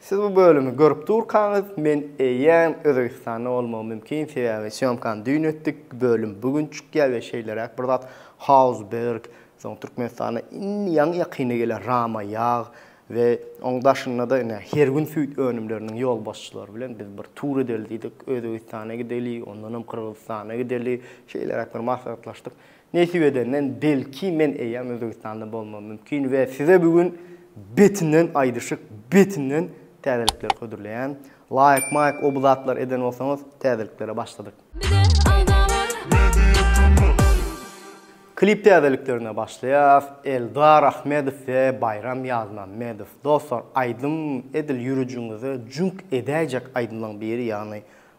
Siz bu bölümi görüp durkaňyz, men eýýäm Özbegistanda bolmagym mümkin, sebäbi sýomkany düýn etdik, bölüm bu gün çykýar we şeýleräk bir zat Hausberg, soň Türkmenistana indi ýaňy-ýakynda gelen Rama ýag we oň daşynda-da ine her gün süýt önümleriniň ýolbaşçylary bilen biz bir tur edeli diýdik, Özbegistana gideli, ondanam Gyrgyzystana gideli, şeýleräk bir maslahatlaşdyk. Nesip edenden belki men eýýam Özbegistanda bolmam mümkin we size bu gün betinden aýdyşyk, betinden täzelikler hödürleýän. Laýk, maýk o bu zatlar eden bolsaňyz täzeliklere başladyk. Bize agzalar media tm. Klip täzeliklerine başlaýas. Eldar Ahmedow we Baýram Ýazmämmedow. Dostlar aýdym edil ýürejiňize jüňk edäýjek aýdymlaň biri ýagny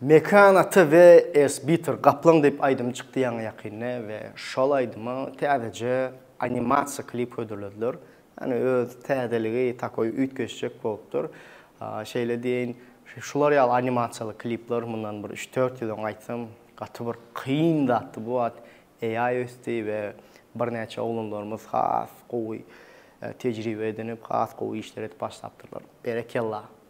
Mekan ata we Ersbitter gaplaň diýip aýdym çykdy ýaňy ýakynda we şol aýdyma täzeje animasiýa klip hödürlediler. Ýagny öz täzeligi takoý üýtgeşjek bolupdyr. Şeýle diýeýin, şular ýaly animasiýaly klipler mundan bir üç-dört ýyl öň aýtsam gaty bir kyn zatdy. Bu wagt AI ösdi we birnäçe oglanlarymyz has gowy tejribe edinip, has gowy işler edip başlapdyrlar. Berekella!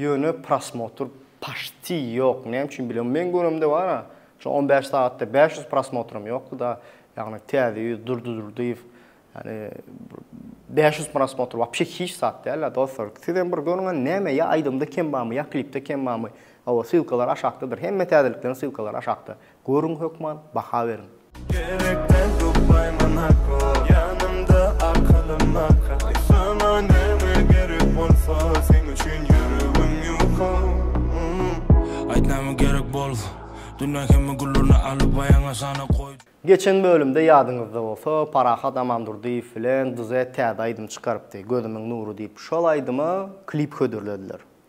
Ýöne prosmotr paşti ýok, näme üçin bilem. Meň göremde bara, şu on bäş sagatda bäş ýüz prosmotram ýokdy da, ýagny Täze ýüz, Durdy Durdyýew, ýagny bäş ýüz prosmotr wapşe hiç zat dälä dostlar. Sizem bir görüň hany näme ýa aýdymda kem barmy, ýa klipde kem barmy. Hawa, ssylkalary aşakdadyr. Hemme täzelikleň ssylkalary aşakda. Görüň hökman baha beriň. Gerekmez bu paýmanaka ýanymda akylym naka Aýtsana näme gerek bolsa seň üçin ýüregim ýuka Aýt näme gerek bolsa dünýä hemme güllerini alyp aýagyňa sana goý. Geçen bölümde ýadyňyzda bolsa Parahat Amandurdyýew bilen Duzet täze aýdym çykarypdy Gözümiň nury diýip şol aýdyma klip hödürlediler.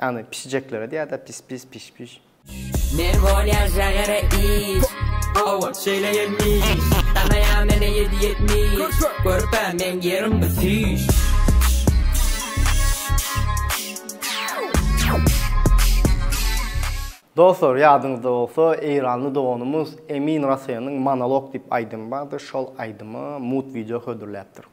Ýagny pişijeklere diýýärda pis-pis, piş-piş. Men bolýa žagara iş. Owa, şeýle gelmiş. Tanaýa meni ýedi ýetmiş. Körpe meň ýerim bu süýş. Dostlar, ýadyňyzda bolsa, eýranly doganymyz Emin Raseýanyň Monolog diýip aýdymy bardy, şol aýdyma mut wideo hödürläpdir.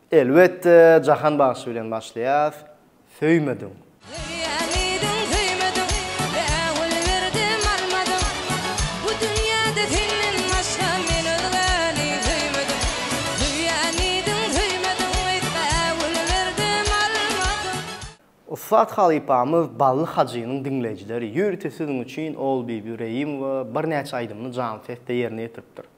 Elbetde Jahan bagşy bilen başlaýas Söýmediň. Söýýän idim söýmediň Bägül berdim almadyň Bu dünýäde senden başga Men özgäni söýmedim Söýýän idim söýmediň Eýt bägül berdim almadyň. Ussat halypamyz Bally Hajynyň diňleýjileri ýörite siziň üçin Ogulbibi Reýimowa birnäçe aýdymyny janly sesde ýerine ýetiripdir.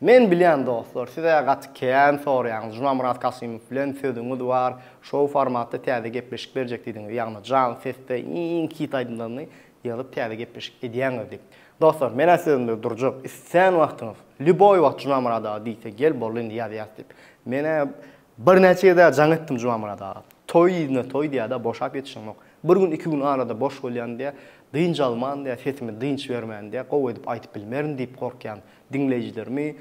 Men bilýän dostlar size gaty kän sorýaňyz Jumamurat Kasymow bilen sözüňiz bar şou formatda täze gepleşik berjek diýdiňiz ýagny jan sesde iň hit aýdymlaryny ýazyp täze gepleşik edýäňiz diýip dostlar menä sözümde durjak istän wagtyňyz lýuboý wagt Jumamurada diýse gel boldy indi ýazýas diýip menä Birnäçe ýerde jaň etdim Jumanmyrat aga. Toý yzyna toý diýýär-de, boşap ýetişiňok. Bir gün, iki gün arada boş bolýan diýýä, dynç alman diýýä, sesimi dynç bermän diýýä, gowy edip aýdyp bilmerin diýip gorkýan. Diňleýjilerimi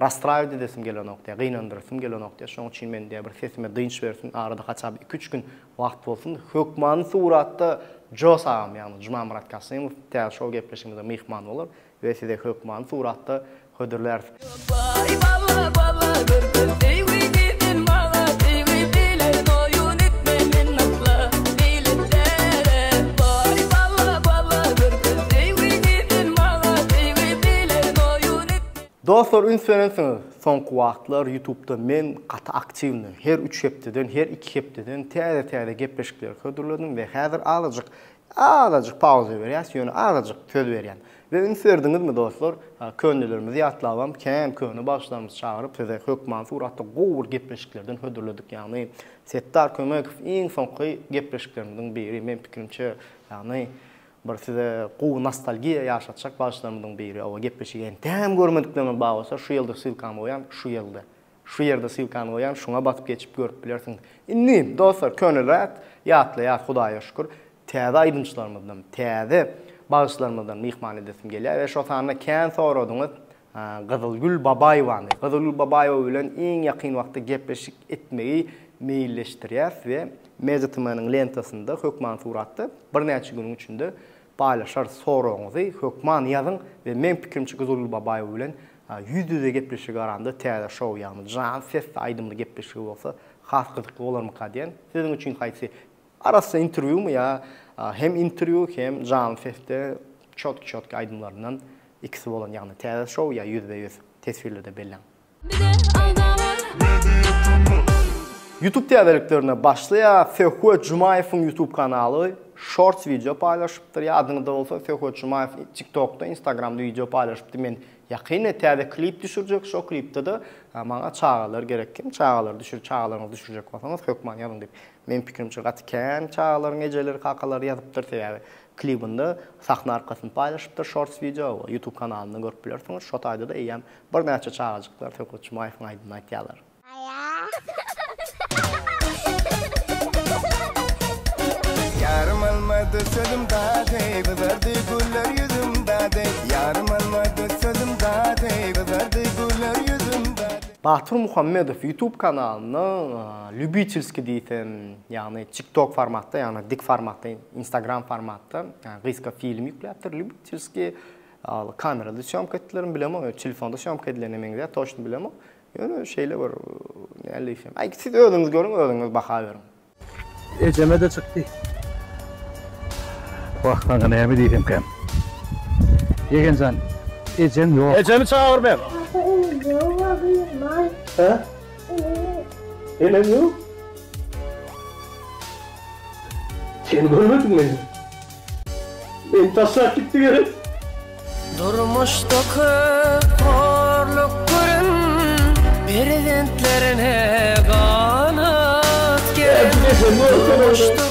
rastrawit edesim gelenok diýýä, gynandyrasym gelenok diýýä. Şoň üçin men diýýä bir sesime dynç bersin, arada haçan bir iki-üç gün wagt bolsun. Hökmany suratda Jos agam, ýagny Jumanmyrat Kasymow täze şol gepleşigimize myhman bolar. We size hökmany suratda hödürläris. Baý bala bala görgül deýwi diýdin maňa deýwi bilen oýun etme men asla beýletsärem baý bala bala görgül deýwi diýdin maňa deýwi bilen oýun etme. Dostlar üns berensiňiz soňky wagtlar ýutubda men gaty aktiwny her üç hepdeden her iki hepdeden täze täze gepleşikleri hödürledim we häzir azajyk Azajyk pauza berýäs, ýöne azajyk söz berýän. We üns berdiňizmi dostlar, könelerimizi ýatlabam kän, köne bagşylarymyzy çagyryp size hökman suratda gowy bir gepleşiklerden hödürledik, ýagny Setdar Kömekow iň soňky gepleşiklerimiziň biri, men pikirimçe ýagny bir size gowy nostalgiýa ýaşatjak bagşylarymyzyň biri, oba gepleşigi entägem görmediklerim bar bolsa şu ýyldyr ssylkamy goýan şu ýyldy. Şu ýerde sylkany goýan şuňa basyp geçip görüp bilersiň. Indi dostlar köne zat ýatlaýas Hudaýa şükür. Täze aýdymçylarymyzdan, täze bagşylarymyzdan myhman edesim gelýär we şo sanda kän soradyňyz Gyzylgül Babaýewany. Gyzylgül Babaýewa bilen iň ýakyn wagtda gepleşik etmegi meýilleşdirýäs we MediaTm-niň lentasynda hökman suratda birnäçe günüň içinde Paýlaşarys soragyňyzy hökman ýazyň we meň pikirimçe Guzulguly Babaýew bilen ýüz ýüze gepleşigi garanda täze şou ýagny jan sesli aýdymly gepleşigi bolsa has gyzykly bolarmyka diýen siziň üçin haýsy arassa interwýumy ýa hem interwýu hem janly sesde çotki çotki aýdymlaryndan ikisi bolan ýagny täze şou ýa ýüzbe ýüz teswirlerde belläň. Youtube täzeliklerine başlaýas. Söhbet Jumaýewiň Youtube kanaly Shorts wideo paýlaşypdyr. Ýadyňyzda bolsa Söhbet Jumaýew TikTokda, Instagramda wideo paýlaşypdy. Men ýakynda täze klip düşürjek. Şo klipde-de maňa çagalar gerek. Kim çagalar düşür, çagalaryňyzy düşürjek bolsaňyz hökman ýazyň diýip. Meniň pikirimçe gaty kän çagalaryň ejeleri, kakalary ýazypdyr. Sebäbi klibinde sahna arkasyny paýlaşypdyr Shorts wideo. Youtube kanalyndan görüp bilersiňiz. Şo taýda-da eýýäm Birnäçe çagajyklar Söhbet Jumaýewiň aýdymyny aýtýarlar. Ýarym almady sözüm dady, gyzardy güller ýüzüm dady, Ýarym almady sözüm dady, gyzardy güller ýüzüm dady. Batyr Muhammedow YouTube kanalynda lýubitelskiý diýsem, ýagny TikTok formatda, ýagny dik formatda, Instagram formatda gysga film ýükläpdir, lýubitelskiý. Al kamerada sýomka etdilermi bilemok, telefonda sýomka edilene meňzär, toçny bilemok. Ýöne şeýle bir näle diýsem, aý siz özüňiz görüň, özüňiz baha beriň. Ejeme-de çykdy. Wah, maňa näme diýsemkäm. Ýegen jan, ejem ýok. Ejemi çagyr ber. Ata enem ýok we gyz bar. Hä? Enem ýok. Enem ýok? Sen görmediňmi? Eý taşlap gitdi gerek. Durmuşda köp horluk gören perzentlerine ganat gerek. Durmuşda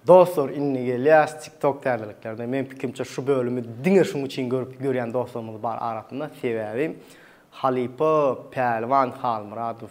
Dostlar indi gelýäs TikTok täzeliklerine. Men pikrimçe şu bölümi diňe şuň üçin görüp görýän dostlarymyz bar arasynda. Sebäbi Halypa Pälwan Halmyradow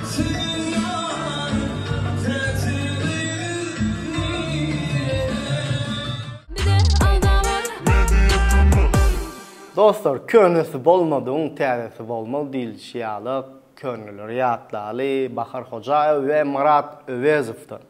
Senem ýaryň täji gyz nirede. Bize alda bar. Media tm. Dostlar, könesi bolmadygyň täzesi bolmaz diýlişi ýaly, köneleri ýatlaly, Bahar Hojaýewa we Marat Öwezowdan.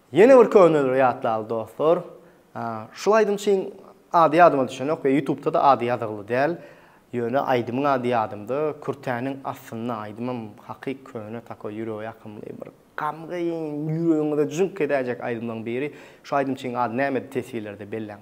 Ýene bir köneleri ýatlaly dostlar. Şul aýdymçyň ady ýadyma düşenok we ýutubda-da ady ýazygly däl. Ýöne aýdymyň ady ýadymda, Kürtäniň astynda aýdymam hakyk köne takoý ýürege ýakymly bir gamgyn ýüregiňize jüňk edäýjek aýdymlaryň biri. Şu aýdymçyň ady nämedi teswirlerde belläň.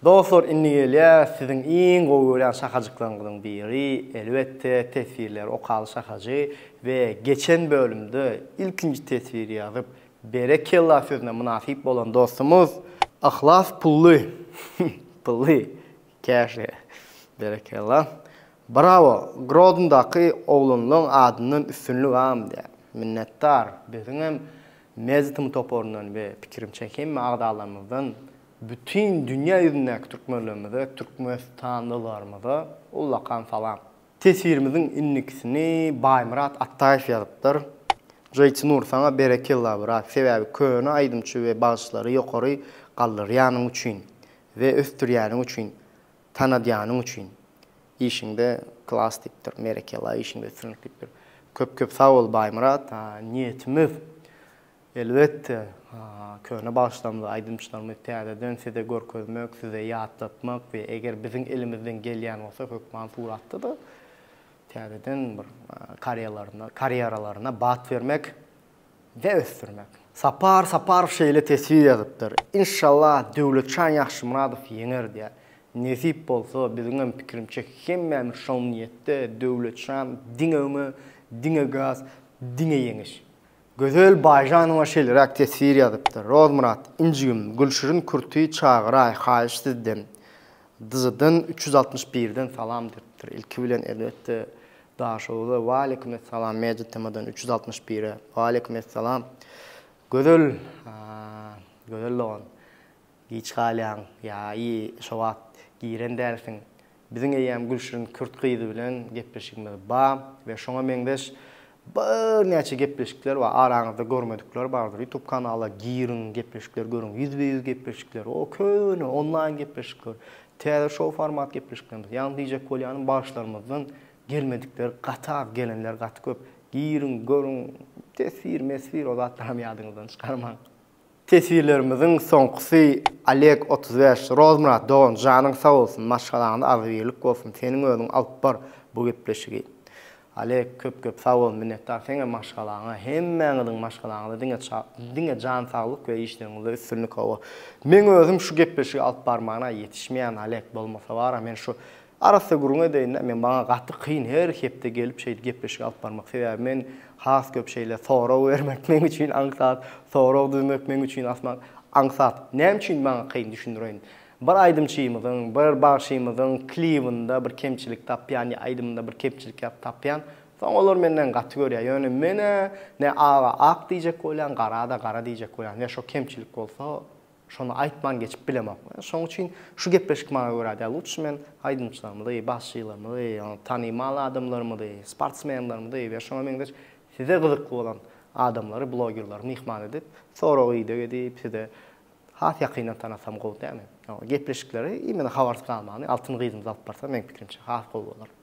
Dostlar indi gelýär siziň iň gowy görýän şakajyklaryňyzyň biri elbetde teswirleri okaly şakajy we geçen bölümde ilkinji teswiri ýazyp berekella sözüne mynasyp bolan dostumyz Yhlas Pully Pully Käşe berekella Brawo Grodndaky oglanlaň adyndan üstünlik am diýýär minnetdar biziňem Mezitm toparyndan we pikirimçe hemme agzalarymyzdan Bütin dünýä ýüzündäki türkmenlerimize, türkmenistanlylarymyza ullakan salam. Teswirimiziň indikisini Baýmyrat Atdaýew ýazypdyr. Jyýtynur saňa berekella brat, sebäbi köne aýdymçy we bagşylary ýokary galdyrýanyň üçin we ösdürýäniň üçin, tanadýanyň üçin. Işiňde klas diýipdir, merekela işiňde üstünlik diýipdir. Köp köp sag bol Baýmyrat. Niýetimiz Elbetde, köne bagşylarymyzy, aýdymçylarymyzy täzeden size görkezmek, size ýatlatmak we eger biziň elimizden gelýän bolsa hökman suratda-da täzeden bir karýalaryna, karýeralaryna bat bermek we ösdürmek. Sapar Saparow şeýle teswir ýazypdyr, Inşallah Döwletjan Ýagşymyradow ýeňer diýýär. Nesip bolsa, biziňem pikirimçe hemmämiz şol niýetde, Döwletjan diňe öňe, diňe gaz, diňe ýeňiş! Gözel Baýžanowa şeýleräk teswir ýazypdyr, Rozmyrat, injigim, Gülşirin Kürti çagyraý, haýyş sizden! Dz-dan üç ýüz altmyş birden salam diýipdir. Ilki bilen, elbetde, Daşoguza Waleýkim essalam, Media-tm-dan üç ýüz altmyş bire Waleýkim essalam. Gözel, Gözel dogan, giç galýaň, ýa-i şo wagt giren dälsiň, Biziň eýýäm Gülşirin kürt gyzy bilen gepleşigimiz bar we şoňa meňzeş birnäçe gepleşikler bar, araňyzda görmedikler bardyr, ýutub kanala giriň, gepleşikleri görüň, ýüzbe-ýüz gepleşikler, o köne onlaýn gepleşikler, täze şou format gepleşiklerimiz, ýagny diýjek bolýanym bagşylarymyzdan gelmedikler gaty az, gelenler gaty köp, giriň, görüň, teswir-meswir o zatlaram ýadyňyzdan çykarmaň. Teswirlerimiziň soňkusy Oleg otuz bäş Rozmyrat dogan janyň sag bolsun maşgalaňda agzybirlik bolsun seniň özüň alyp bar bu gepleşigi Oleg köp köp sag bol minnetdar seňe maşgalaňa hemmäňiziň maşgalaňyza diňe diňe jan saglyk we işleriňizde üstünlik hawa meň özüm şu gepleşigi alyp barmana ýetişmeýän Oleg bolmasa bara men şu Arassa gürrüň edeýin-dä, men maňa gaty kyn her hepde gelip şeýdip gepleşik alyp barmak, sebäbi men has köp şeýle sorag bermek meň üçin aňsat, sorag düzmek meň üçin asman aňsat. Näme üçin maňa kyn düşündireýin. Bir aýdymçymyzyň, bir bagşymyzyň klibinde bir kemçilik tapýan ýa aýdymynda bir kemçilik ýa tapýan, soň olar menden gaty görýär. Ýöne men-ä ne aga ak diýjek bolýan, gara-da gara diýjek bolýan. Ýa şo kemçilik bolsa, Şony aýtman geçip bilemok. Şoň üçin şu gepleşik maňa görä däl. Lutşy men aýdymçylarymyzy, basçylarymyzy, ýa-da tanymal adamlarymyzy, sportsmenlerimizi we şoňa meňzeş size gyzykly bolan adamlary, blogerleri myhman edip, sorag-ideg edip, size has ýakyndan tanasam gowy dämi? Ýa-da gepleşikleri imeny habarsyz galmany Altyn gyzymyz alyp barsa, meň pikirimçe, has gowy bolar.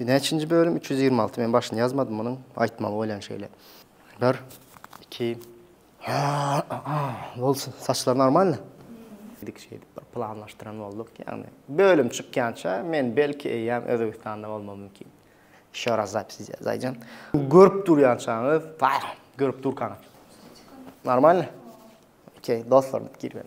Näçinji bölüm? Üç ýüz ýigrimi alty. Men başyny ýazmadym munuň. Aýtmaly bolýan şeýle. Bir, iki. Bolsun. Saçlar normalny? Dik şeýdip bir planlaşdyran bolduk. Ýagny bölüm çykýança men belki eýýäm Özbegistanda bolmam mümkin. Ýeşo raz zapis edýäs Aýjan. Görüp durýançaňyz, görüp durkaňyz. Normalny? Okey, dostlar, girip.